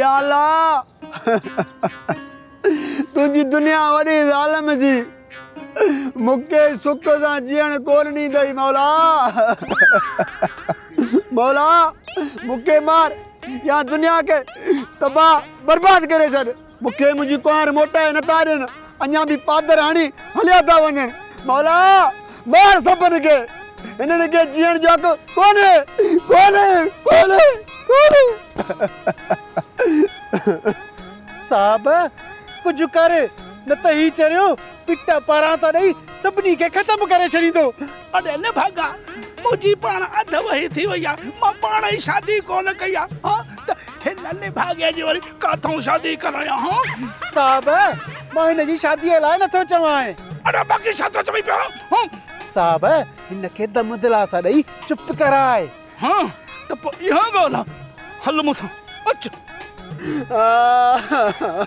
يا الله تنهنجي دنيا وڏي ظالم جي مون کي سک سان جيئڻ ڪون ڏيندئي مولا مولا مون کي مار يا دنيا کي تباهه برباد ڪري ڇڏ. مون کي منهنجي ڪنوار موٽائي نٿا ڏين، اڃا به پادر هڻي هليا ٿا وڃن. مولا! مار سڀن کي، هنن کي جيئڻ جو حق ڪونهي، ڪونهي، ڪونهي، ڪونهي. صاحب! ڪجهه ڪر، نه ته هي چريو پٽ پارانتا ڏئي سڀني کي ختم ڪري ڇڏيندو. اڙي نڀاڳا! منهنجي پاڻ اڌ وهي ٿي وئي آهي، مان پاڻ ئي شادي ڪونه ڪئي آهي، ها ته هن نڀاڳي جي وري ڪاٿئون شادي ڪرڻيا هون. صاحب! مان هن جي شاديء لاء نه ٿو چوانء. اڙي باقي ڇا ٿو چوين پيو هون؟ صاحب! هن کي دم دلاسا ڏئي چپ ڪرائي. ها ته پوء اها ڳالهه آ. هل مون سان اچ. آه.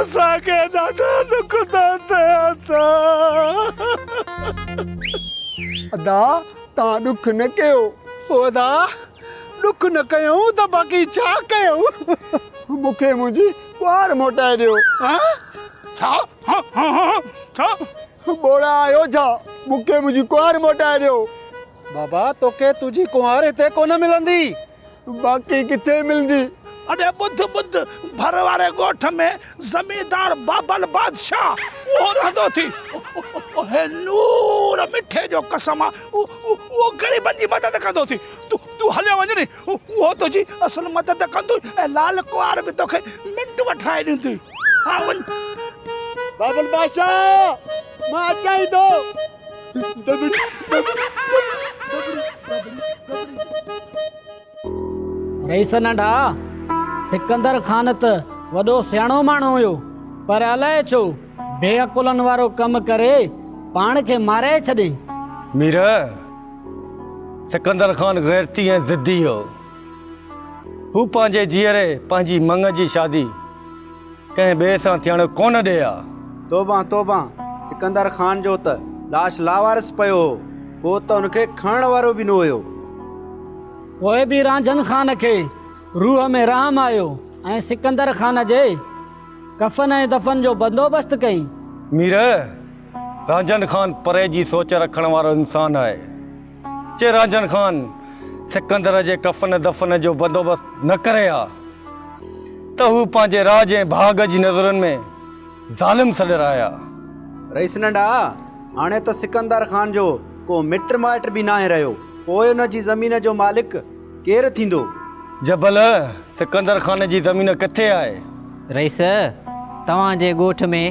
اسان کي ڏاڍا ڏک ٿا ٿين ادا. ادا توهان ڏک نه ڪيو. او ادا ڏک نه ڪيون ته باقي ڇا ڪيون. مون کي منهنجي ٻار موٽائي ڏيو. ڇا ڇا ٻوڙا آهيو ڇا مون کي منهنجي ڪنوار موٽائي ڏيو. بابا توکي تنهنجي ڪنوار هتي ڪونه ملندي. باقي ڪٿي ملندي؟ اڙي ٻڌ ٻڌ، ڀر واري ڳوٺ ۾ زميندار بابل بادشاهه اهو رهندو ٿي. اهي نور مٺي جو قسم آ، اهو غريبن جي مدد ڪندو ٿي. تون هليو وڃ ني، اهو تنهنجي اصل مدد ڪندو ۽ لال ڪنوار به توکي منٽ وٺرائي ڏيندي. ها وڃ. بابل بادشاهه، مان اچان ئي ٿو. رئيس ننڍا سڪندر خان ته وڏو سياڻو ماڻهو هيو پر الائي ڇو بي عقلن وارو ڪم ڪري پاڻ کي مارائي ڇڏي مير سڪندر خان غيرتي ۽ ضدي هيو هو پنهنجي جيئري پنهنجي مڱ جي شادي ڪنهن ٻئي سان ٿيڻ ڪونه ڏئي ها. توبان توبان سڪندر خان جو ته لاش لاوارث پيو هو، ڪو ته ان کي کڻڻ وارو به نه هيو. پوء به رانجهن خان کي روح ۾ رحم آيو ۽ سڪندر خان جي ڪفن ۽ دفن جو بندوبست ڪيائين. مير، رانجهن خان پري جي سوچ رکڻ وارو انسان آهي. چيراجن خان سڪندر جي ڪفن دفن جو بندوبست نه ڪري ها ته هو پنهنجي راڄ ۽ ڀاڳ جي نظرن ۾ ظالم سڏر آيا. رئيس ننڊا، هاڻي ته سڪندر خان جو ڪو مٽ مائٽ به ناهي رهيو، پوء ان جي زمين جو مالڪ ڪير ٿيندو؟ جبل، سڪندر خان جي زمين ڪٿي آهي؟ رئيس، توهان جي ڳوٺ ۾.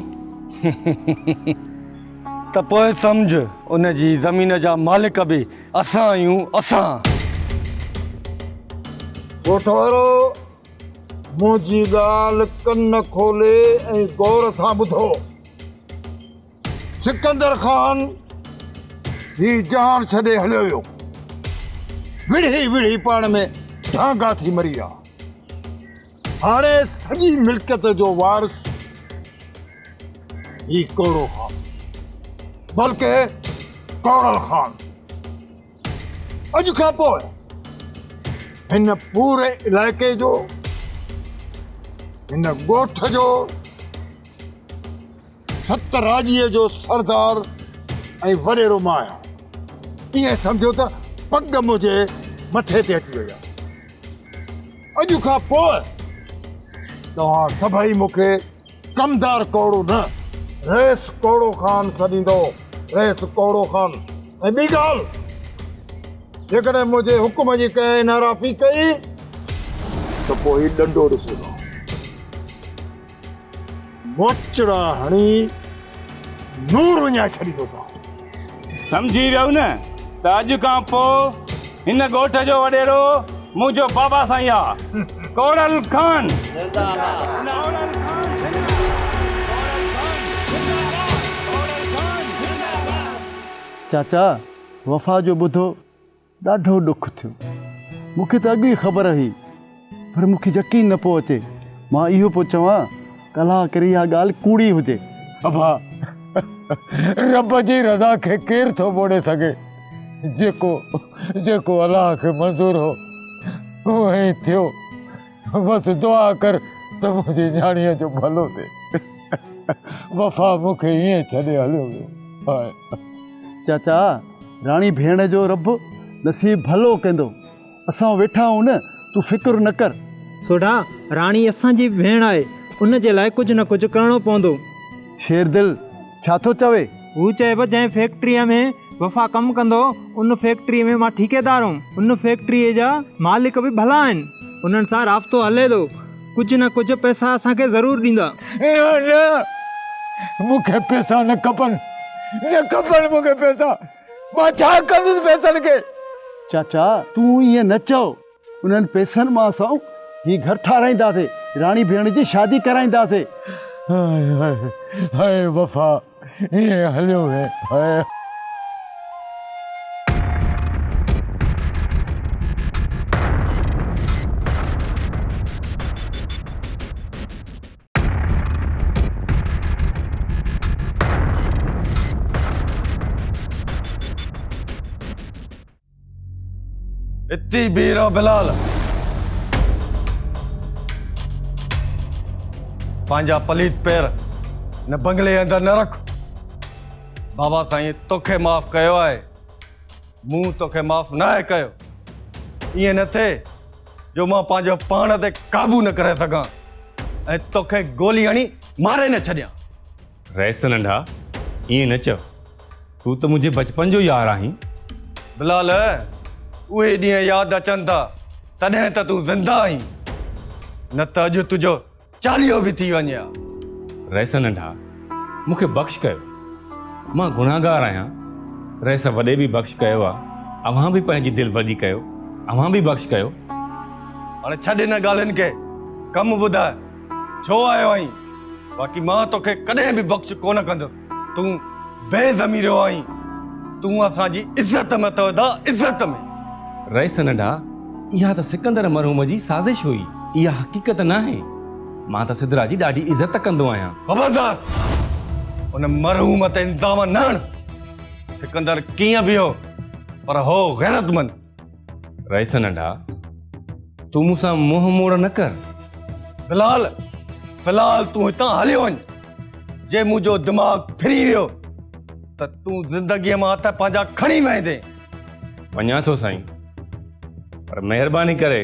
ته پوء سمجهه ان جي زمين جا مالڪ به اسان آهيون اسان. ڳوٺوارو منهنجي ڳالهه ڪن کولي ۽ غور سان ٻڌو. سڪندر خان هي جهان ڇڏي هليو ويو. وڙهي وڙهي پاڻ ۾ ڍانگا ٿي مري ويا. هاڻي سڄي ملڪيت جو وارث هي ڪوڙو خان بلڪه ڪوڙل خان اڄ کان پوء هن پوري علائقي جو هن ڳوٺ جو ست راڄيء جو سردار ۽ وڏيرو مان آهيان. ائين سمجهو ته پڳ منهنجي مٿي تي اچي وئي آهي. اڄ کان پوء توهان سڀئي مون کي ڪمدار ڪوڙو نه، رئيس ڪوڙو خان سڏيندؤ، رئيس ڪوڙو خان. ۽ ٻي ڳالهه، جيڪڏهن منهنجي حڪم جي ڪنهن نارافي ڪئي ته پوء هي ڏنڊو ڏسجو. موچڙا هڻي نور وڃائي ڇڏيندو سان. سمجهي ويو نه ته اڄ کان پوء هن ڳوٺ جو وڏيرو منهنجو بابا سائين آ. ڪوڙل خان زنده آباد. چاچا وفا جو ٻڌو. ڏاڍو ڏک ٿيو. مون کي ته اڳ ئي خبر هئي پر مون کي يقين نه پيو اچي. مان اهو پيو چوان ته الله ڪري اها ڳالهه ڪوڙي هجي. ابا رب جي رضا کي ڪير ٿو موڙي سگهي. جيڪو جيڪو الله کي منظور هو اهو ائين ٿيو. بس دعا ڪر ته منهنجي نياڻيء جو ڀلو ٿئي. وفا مون کي ائين ڇڏي هليو ويو آهي. چاچا، راڻي ڀيڻ جو رب نصيب ڀلو ڪندو. اسان ويٺا آهيون نه، تون فڪر نه ڪر. سوڍا، راڻي اسان جي به ڀيڻ آهي، ان جي لاء ڪجهه نه ڪجهه ڪرڻو پوندو. شيردل، ڇا ٿو چوي؟ هو چئي پيو جنهن فيڪٽريء ۾ وفا ڪم ڪندو ان فيڪٽريء ۾ مان ٺيڪيدار هوم. ان فيڪٽريء جا مالڪ به ڀلا آهن. انهن سان رابطو هلي ٿو. ڪجهه نه ڪجهه پئسا اسان کي ضرور ڏيندا. نه نه، مون کي پئسا نه کپن. نه کپن مون کي پئسا. مان ڇا ڪندس پئسن کي؟ چاچا تون ائين نه چئو. انهن پئسن مان اسان هي گهر ٺاراينداسين، راڻي ڀيڻ جي شادي ڪرائينداسين. هاء هاء هاء وفا ائين هليو ويئي هاء. اتي بيهي رهو بلال پنهنجا پليت پير هن بنگلي اندر نه رک بابا سائين توکي معاف ڪيو آهي مون توکي معاف نه آهي ڪيو ائين نه ٿئي جو مان پنهنجو پاڻ تي قابو نه ڪري سگهان ۽ توکي گولي هڻي ماري نه ڇڏيان رئيس ننڍا ائين نه چئو تون ته منهنجي بچپن جو يار آهين بلال اهي ڏينهن ياد اچن ٿا تڏهن ته تون زنده آهين نه ته اڄ تنهنجو چاليهو به ٿي وڃي ها رئيس ننڍا مون کي بخش ڪيو مان گناهگار آهيان رئيس وڏي به بخش ڪيو آ اوهان به پنهنجي دل وڏي ڪيو اوهان به بخش ڪيو هاڻي ڇڏ هن ڳالهين کي ڪم ٻڌاء ڇو آيو آهين؟ باقي مان توکي ڪڏهن به بخش ڪونه ڪندس. تون بي ضميريو آهين. تون اسان جي عزت ۾ اٿو ادا، عزت ۾. رئيس ننڍا، اها ته سڪندر مرحوم جي سازش هئي. اها حقيقت ناهي. مان ته سدرا جي ڏاڍي عزت ڪندو آهيان. خبردار! ان مرحوم تي الزام نه هڻ. سڪندر ڪيئن به هو پر هو غيرتمند. رئيس ننڍا تون مون سان منهن موڙ نه ڪر في الحال في الحال تون هتان هليو وڃ جي منهنجو دماغ ڦري ويو ته تون زندگيء مان هٿ پنهنجا کڻي ويندين وڃان ٿو سائين پر مهرباني ڪري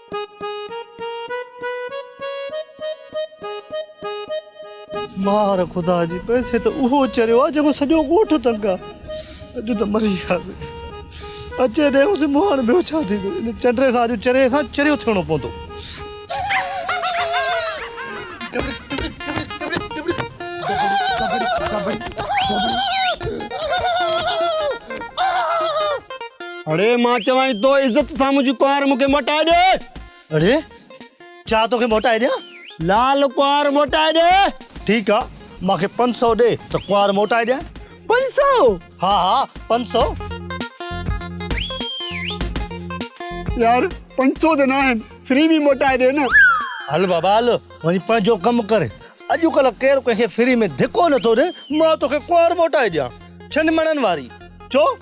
مار خدا جي پئسي ته اهو چريو آ جيڪو سڄو ڳوٺ تنگ آ اڄ ته مري وياسين اچي ڏي هوسين مون هاڻ ٻيو ڇا ٿيندو ان چنڊري سان اڄ چريي سان چريو ٿيڻو پوندو. اڙي مان چوانء تو عزت سان منهنجي ڪنوار مون کي موٽائي ڏي. اڙي ڇا توکي موٽائي ڏيان؟ لال ڪنوار موٽائي ڏي. ٺيڪ آ مان کي پنج سئو ڏي ته ڪنوار موٽائي ڏيان. پنج سئو؟ ها ها پنج سئو. يار پنج سئو ته ناهن فري ۾ موٽائي ڏي نه. هل بابا هل وڃي پنهنجو ڪم ڪر. اڄڪلهه ڪير ڪنهن کي فري ۾ ڌڪو نٿو ڏي مان توکي ڪنوار موٽائي ڏيان. ڇنڊ مڙن واري. ڇو؟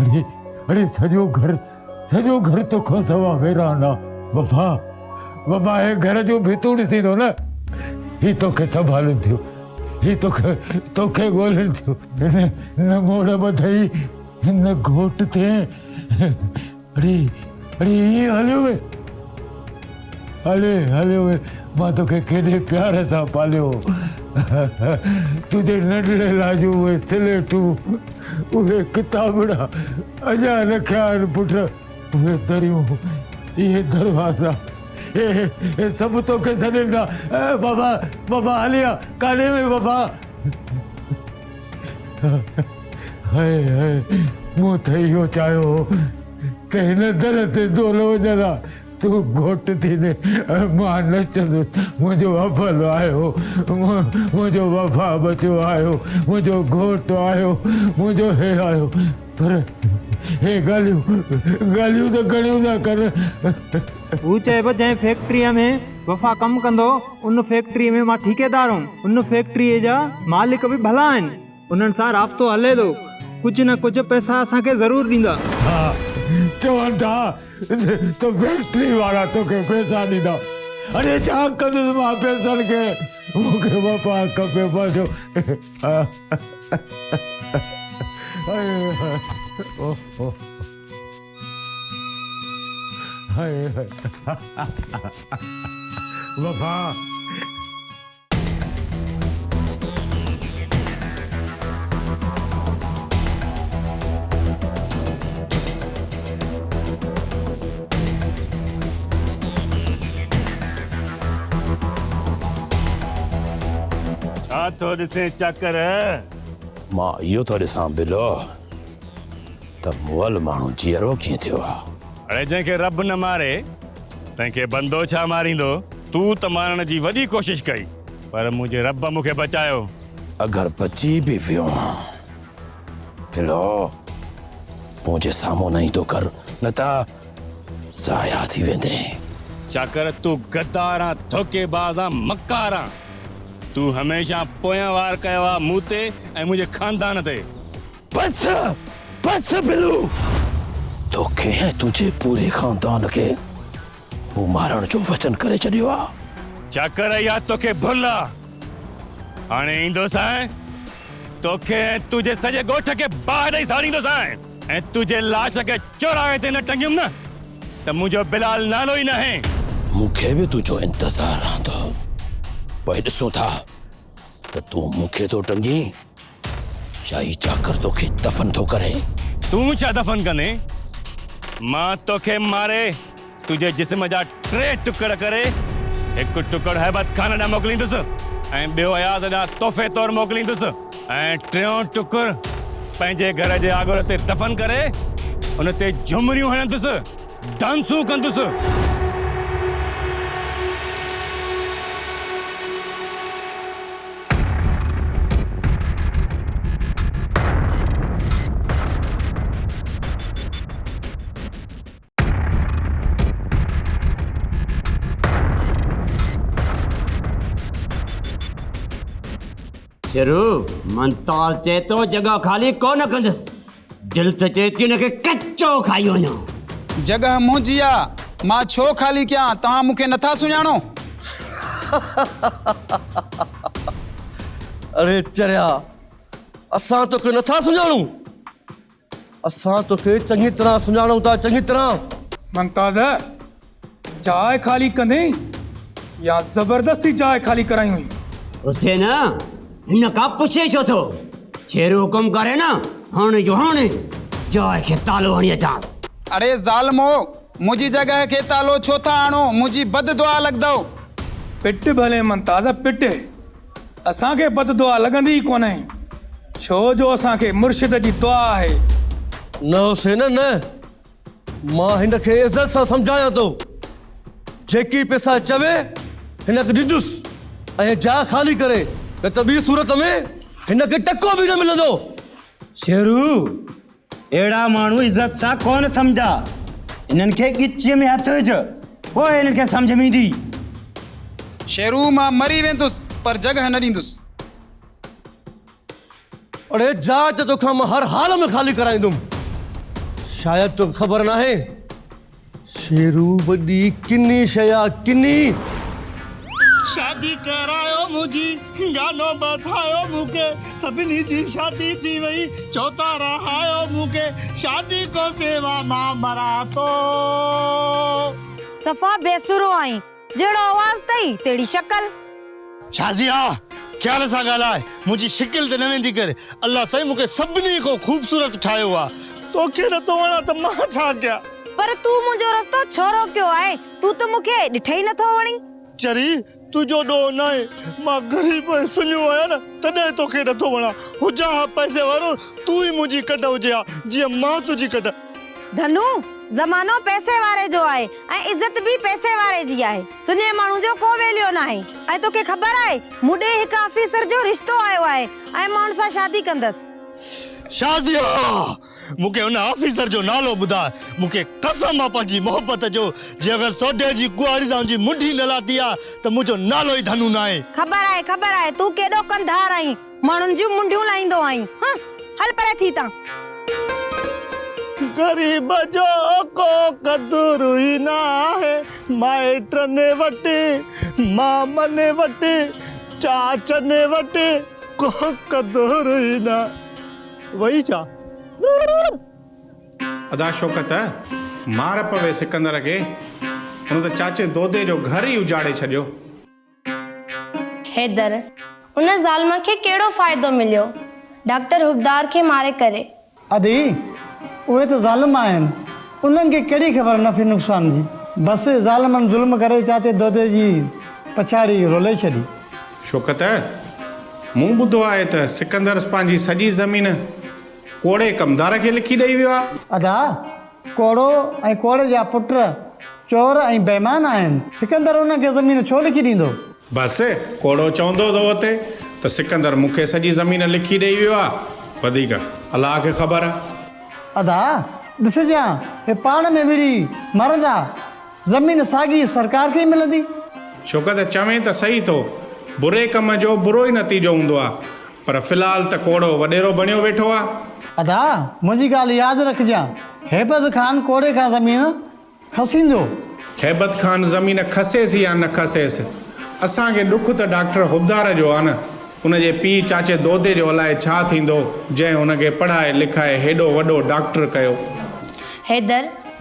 اڙي اڙي سڄو گهر سڄو گهر توکان سوا ويران آ. وفا وفا هي گهر جو به تون ڏسين ٿو نه هي توکي سنڀالين ٿيون هي توکي توکي ڳولين ٿيون. هن نه موڙ ٻڌئي هن گهوٽ تي اڙي اڙي ائين هليو وئي. هلي هلي وئي مان توکي ڪيڏي پيار سان پاليو هو تنهنجي ننڍڙي لاء جو اهي سليٽون اهي ڪتابڙا اڃا رکيا آهن پٽ اهي دريون اهي دروازا اهي سڀ توکي سڏين ٿا بابا بابا هلي آ ڪاڏي وئي بابا هاي هاي مون ته اهو چاهيو هو ته هن در تي دول وجهندا تون گهوٽ ٿيندي مان نه چوندس منهنجو ابل آهيو، منهنجو وفا ٻچو آهيو، منهنجو گهوٽ آهيو، منهنجو هي آهيو، پر هي ڳالهيون ڳالهيون ته گهڻيون ٿا ڪن. هو چئي ٿو جنهن فيڪٽريء ۾ وفا ڪم ڪندو ان فيڪٽريء ۾ مان ٺيڪيدار هوم، ان فيڪٽريء جا مالڪ به ڀلا آهن. انهن سان رابطو هلي ٿو، ڪجهه نه ڪجهه پئسا اسان کي ضرور ڏيندا. ها، چون ٿا ته فيڪٽري وارا توکي پئسا ڏيندا. اڙي ڇا ڪندس مان پئسن کي، مون کي واپار کپي پنهنجو. وفا! ڇا ٿو ڏسين چاڪر؟ مان اهو ٿو ڏسان بلو ته مئل ماڻهو جيئرو ڪيئن ٿيو آهي. اڙي جنهن کي رب نه ماري تنهن کي بندو ڇا ماريندو؟ تون ته مارڻ جي وڏي ڪوشش ڪئي پر منهنجي رب مون کي بچايو. اگر بچي به ويو هان ڀلو مون جي سامهون نه ايندو ڪر نه ته ضايع ٿي ويندين. چاڪر تون غدار آن ڌوڪي باز آن مڪار آن تون هميشه پويان وار ڪيو آ مون تي ۽ منهنجي خاندان تي. بس بس ڀلو توکي ۽ تنهنجي پوري خاندان کي مون مارڻ جو وچن ڪري ڇڏيو آ. چڪر اھي آ توکي ڀل آ. ھاڻي ايندوسانء توکي ۽ تنھنجي سڄي ڳوٺ کي باھه ڏئي ساڙيندوسانء. ۽ تنھنجي لاش کي چوراھي تي نه ٽنگيم نه ته منھنجو بلال نالو ئي ناھي. مون کي به تنھنجو انتظار رھندو. پوء ڏسون ٿا ته تون مون کي ٿو ٽنگين ڇا هي چاڪر توکي دفن ٿو ڪري؟ تون ڇا دفن ڪندين؟ مان توکي ماري تنهنجي جسم جا ٽي ٽڪر ڪري هڪ ٽڪر هيبت خان ڏانهن موڪليندس ۽ ٻيو اياز ڏانهن تحفي طور موڪليندس ۽ ٽيون ٽڪر پنهنجي گهر جي آڳر تي دفن ڪري ان تي جهمريون هڻندس، ڊانسون ڪندس. ڇرو، منتال چئي ٿو جڳهه خالي ڪونه ڪندس. دل ته چئي ٿي ان کي ڪچو کائي وڃان. جڳهه منهنجي آ، مان ڇو خالي ڪيان، توهان مون کي نٿا سڃاڻو؟ اڙي چريا، اسان توکي نٿا سڃاڻون، اسان توکي چڱي طرح سڃاڻون ٿا، چڱي طرح. ممتاز، جاء خالي ڪندين يا زبردستي جاء خالي ڪرايون. حسين، هن کان پڇين ڇو ٿو؟ شيرو حڪم ڪري نه، هاڻي جو هاڻي جاء کي تالو هڻي اچانس. اڙي ظالمو! منهنجي جڳهه کي تالو ڇو ٿا هڻو، منهنجي بد دعا لڳندؤ. پٽ ڀلي ممتاز پٽ، اسان کي بد دعا لڳندي ئي ڪونه، ڇو جو اسان کي مرشد جي دعا آهي. نه حسين نه! مان هن کي عزت سان سمجهايان ٿو. جيڪي پيسا چوي هن کي ڏيندس ۽ جاء خالي ڪري نه ته ٻي صورت ۾ هن کي ٽڪو به نه ملندو. شيرو، اهڙا ماڻهو عزت سان ڪونه سمجهندا. هنن کي ڳچيء ۾ هٿ وجهه، پوء هنن کي سمجهه ۾ ايندي. شيرو، مان مري ويندس پر جڳهه نه ڏيندس. اڙي جاء ته توکان مان هر حال ۾ خالي ڪرائيندم. شايد توکي خبر ناهي شيرو وڏي ڪني شيء آ ڪني. شادي ڪرايو منهنجي گانو ٻڌايو مونکي سڀني جي شادي ٿي وئي چوٿا رهايو مونکي شادي کان سوا مان مران ٿو. صفا بي سرو آهين جهڙو آواز اٿئي، تهڙي شڪل. شازي ها، خيال سان ڳالهاء، منهنجي شڪل تي نه ويندي ڪر. الله سائين مون کي سڀني کان خوبصورت ٺاهيو آ. توکي نه ٿو وڻان ته مان ڇا ڪيان؟ پر تون منهنجو رستو ڇو روڪيو آهي؟ تون ته مون کي ڏٺئي نه ٿو وڻين. چري، تنهنجو ڏوهه ناهي، مان غريب ۽ سڃو آهيان نه، تڏهن توکي نه ٿو وڻان. هجان ها پئسي وارو، تون ئي منهنجي ڪڍ هجي ها، جيئن مان تنهنجي ڪڍ. ڌنو، زمانو پئسي واري جو آهي ۽ عزت به پئسي واري جي آهي. سڃي ماڻهو جو ڪو ويليو ناهي ۽ توکي خبر آهي مون ڏي هڪ آفيسر جو رشتو آيو آهي ۽ مان ان سان شادي ڪندس. شازيا، مون کي ان آفيسر جو نالو ٻڌاء. مون کي قسم آ پنهنجي محبت جو، جي اگر سوڍي جي ڪنواري سان منهنجي منڍي نه لاتي ها ته منهنجو نالو ئي ڌنو ناهي. خبر آهي، خبر آهي تون ڪيڏو ڪنڌار آهين. ماڻهن جون منڊيون لاهيندو آهين. هنء هل پري ٿي تان. غريب جو ڪو قدر ئي ناهي. مائٽن وٽ، مامن وٽ، چاچن وٽ ڪو قدر ئي نه. وئي ڇا؟ ادا شوڪت، مار پوي سڪندر کي، هن ته چاچي دودي جو گهر ئي اجاڙي ڇڏيو. حيدر، ان ظالم کي ڪهڙو فائدو مليو ڊاڪٽر حبدار کي ماري ڪري؟ ادي، اهي ته ظالم آهن، انهن کي ڪهڙي خبر نفعي نقصان جي. بس، ظالمن ظلم ڪري چاچي دودي جي پڇاڙي رولي ڇڏي. شوڪت، مون ٻڌو آهي ته سڪندر پنهنجي سڄي زمين ڪوڙي ڪمدار کي لکي ڏئي ويو آهي. ادا! ڪوڙو ۽ ڪوڙي جا پٽ چور ۽ بيمان آهن. سڪندر انهن کي زمين ڇو لکي ڏيندو؟ بس، ڪوڙو چوندو ٿو اٿي ته سڪندر مون کي سڄي زمين لکي ڏيئي ويو آ. وڌيڪ الله کي خبر آ. ادا، ڏسجان، اهي پاڻ ۾ وڙهي مرندا. زمين ساڳي سرڪار کي ئي ملندي. ڇوڪه ته چوين ته سهي ٿو، بري ڪم جو برو ئي نتيجو هوندو آ، پر في الحال ته ڪوڙو وڏيرو بڻيو ويٺو آ. ادا منهنجي ڳالهه ياد رکجان، هيبت خان ڪوڙي کان زمين کسيندو. هيبت خان زمين کسيس يا نه کسيس، اسان کي ڏک ته ڊاڪٽر حبدار جو آ نه، ان جي پيء چاچي دودي جو الائي ڇا ٿيندو، جنهن هن کي پڙهائي لکائي هيڏو وڏو ڊاڪٽر ڪيو. حيدر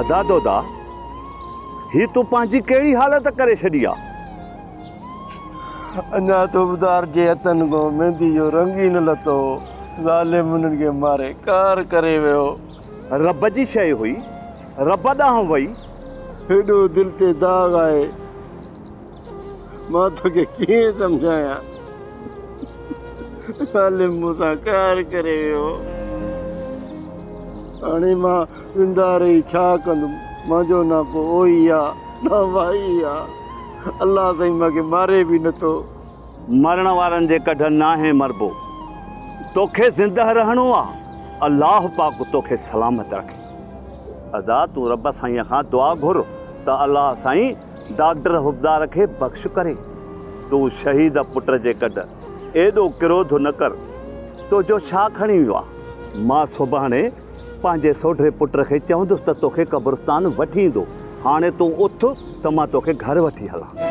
ادا دودا هي تو پنهنجي ڪهڙي حالت ڪري ڇڏي آ. اڃا تو ٻڌار جي هٿن کان ميندي جو رنگ ئي نه لٿو هو ظالم انهن کي ماري ڪار ڪري ويو. رب جي شيء هئي رب ڏانهن وئي. هيڏو دل تي داغ آهي. مان توکي ڪيئن سمجهايان عالم مون سان قهر ڪري ويو هاڻي مان زنده رهي ڇا ڪندم منهنجو نه ڪو اوهي آ نه وائي آ الله سائين مان کي ماري به نه ٿو. مرڻ وارن جي ڪڍ ناهي مربو توکي زنده رهڻو آ الله پاڪ توکي سلامت رکي ادا تون رب سائين کان دعا گهر ته الله سائين ڊاڪٽر حبدار کي بخش ڪري، تون شهيد پٽ جي گڏ ايڏو ڪروڌ نه ڪر، تو جو ڇا کڻي ويو آ؟ مان سڀاڻي پنهنجي سوڍي پٽ کي چوندس ته توکي قبرستان وٺي ايندو، هاڻي تون اٿ ته مان توکي گهر وٺي هلان.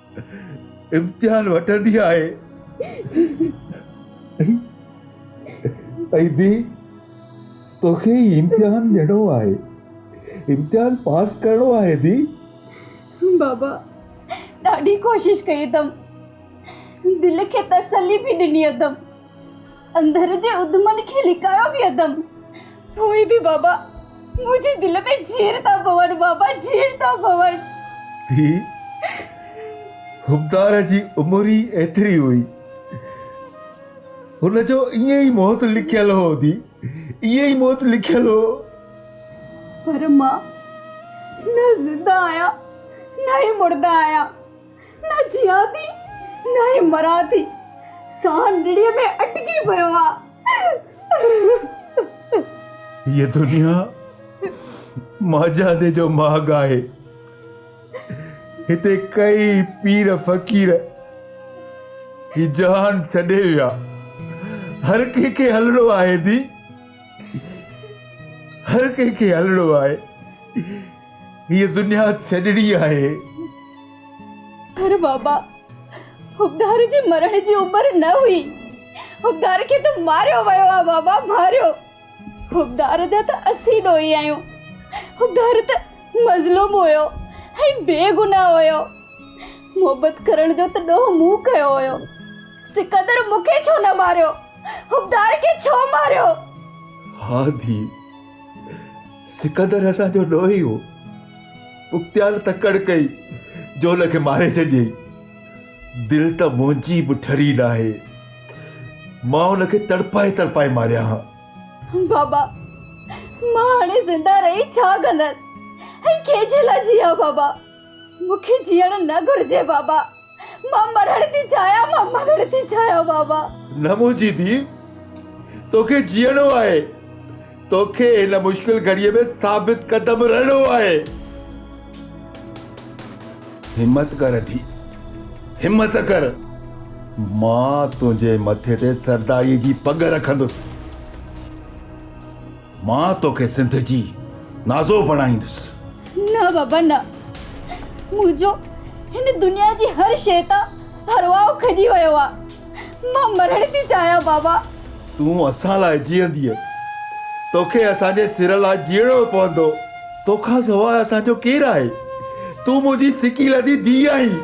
امتحان وٺندي آهي ۽ ڌيء توکي هي امتحان ڏيڻو آهي امتحان پاس ڪرڻو آهي ڌيء بابا ڏاڍي ڪوشش ڪئي اٿم دل کي تسلي به ڏني اٿم اندر جي اڌمن کي لڪايو پيئندم، پوء به بابا منهنجي دل ۾ جيئري ٿا ڀون، بابا جيئري ٿا ڀون. ڌيء، حبدار جي عمر ئي ايتري هئي. هن جو ائين ئي موت لکيل هو ڌيء، ائين ئي موت لکيل هو. پر مان نه زنده آهيان نه ئي مرده آهيان. نه جيئان ٿي نه ئي مران ٿي. ساهه نڙيء ۾ اٽڪي پيو آ. هيء دنيا مانجهاندي جو ماڳ آهي. هتي ڪيئي پير فقير هي جهان ڇڏي ويا. هر ڪنهن کي هلڻو آهي ڌي. هر ڪنهن کي هلڻو آهي. هيء دنيا ڇڏڻي آهي. پر بابا، حقدار جي مرڻ جي عمر نه هئي. حقدار کي ته ماريو ويو آهي بابا، ماريو. حقدار جا ته اسين ڏوهي آهيون. حقدار ته مظلوم هيو ۽ بي گناهه هيو. محبت ڪرڻ جو ته ڏوهه مون ڪيو هيو. سڪندر مون کي ڇو نه ماريو؟ حقدار کي ڇو ماريو؟ ها ڌيء. سڪندر اسان جو ڏوهي هو. بختيار تڪڙ ڪئي، جول کي ماري ڇڏيئي. دل ته منهنجي به ٺري ناهي. مان ان کي تڙپائي تڙپائي ماريان ها. بابا، مان هاڻي زنده رهي ڇا ڪندس ۽ ڪنهن جي لاء جيان بابا. مون کي جيئڻ نه گهرجي بابا. مان مرڻ ٿي چاهيان مان مرڻ ٿي چاهيان بابا. نه منهنجي ڌيء توکي جيئڻو آهي. توکي هن مشڪل گهڙيء ۾ ثابت قدم رهڻو آهي. همت ڪر ڌيء همت ڪر. مان تنهنجي مٿي تي سرداريء جي پڳ رکندس. مان توکي سنڌ جي نازو بڻائيندس. نه بابا نه. منهنجو هن دنيا جي هر شيء تان هرواء کڄي ويو آ. مان مرڻ ٿي چاهيان بابا. تون اسان لاء جيئنديء. توکي اسان جي سر لاء جيئڻو پوندو. توکان سواء اسان جو ڪير آهي. تون منهنجي سڪي لڌي ڌيء آهين.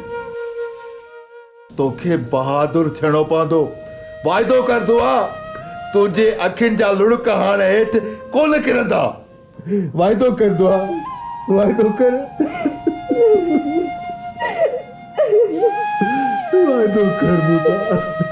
توکي بهادر ٿيڻو پوندو. واعدو ڪر دعا، تنهنجي اکين جا لڙڪ هاڻ هيٺ ڪونه ڪرندا. واعدو ڪر دعا، واعدو ڪر. واعدو ڪر مون سان.